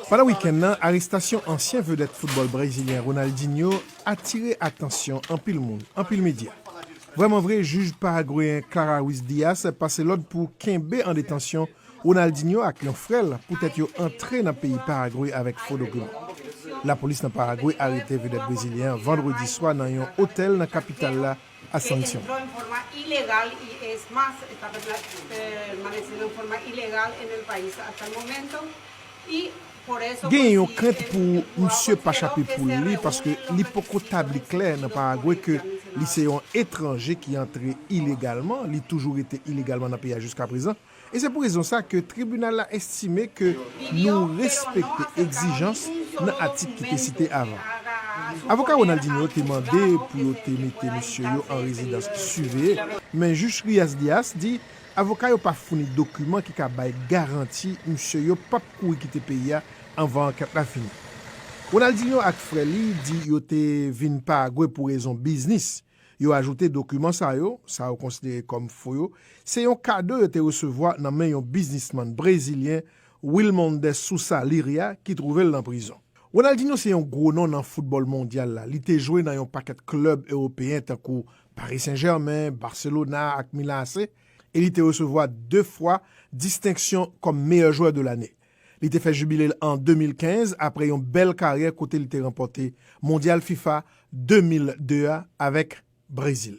Pandan wikenn nan, arestasyon ansyen vedèt foutbòl brezilyen Ronaldinho atire atansyon anpil moun, anpil medya. Vrèman vre, jij paragweyen Clara Ruiz Dias pase lòd pou kenbe an detansyon Ronaldinho ak yon frè l poutèt yo antre nan peyi Paragwe avèk fo dokiman. Lapolis nan Paragwe arete vedèt brezilyen an vandredi swa nan yon otèl nan kapital la, a sanksyon. Genyen yon krent pou misye pa chape poul li paske li poko tabli klè nan Paragwe ke li se yon etranje ki antre ilegalman, li toujou rete ilegalman nan peyi a jiskaprezan. E se pou rezon sa ke tribinal la estime ke nou respekte egzijans nan atik ki te site avan. Avoka Ronaldinho te mande pou yo te mete mesye yo an rezidans siveye, men Jij Rias Dias di avoka yo pa founi dokiman ki ka bay garanti mesye yo p ap kouri kite peyi a anvan ankèt la fini. Ronaldinho ak frè li di yo te vin Paragwe pou rezon biznis. Yo ajoute dokiman sa yo, sa yo konsidere kòm fo yo, se yon kado yo te resevwa nan men yon biznisman brezilyen Wilmondes Sousa Liria ki twouve l nan prizon. Ronaldinho se yon gwo non nan foutbòl mondyal la, li te jwe nan yon pakèt klèb ewopeyen tankou Paris Saint Germain, Barcelona ak Milan AC e li te resevwa 2 fwa distenksyon kòm meyè jwè de lanne. Li te fè jibile l an 2015 aprè yon bèl karyè kote li te ranpòte Mondyal fifa 2002 a avèk Brezil.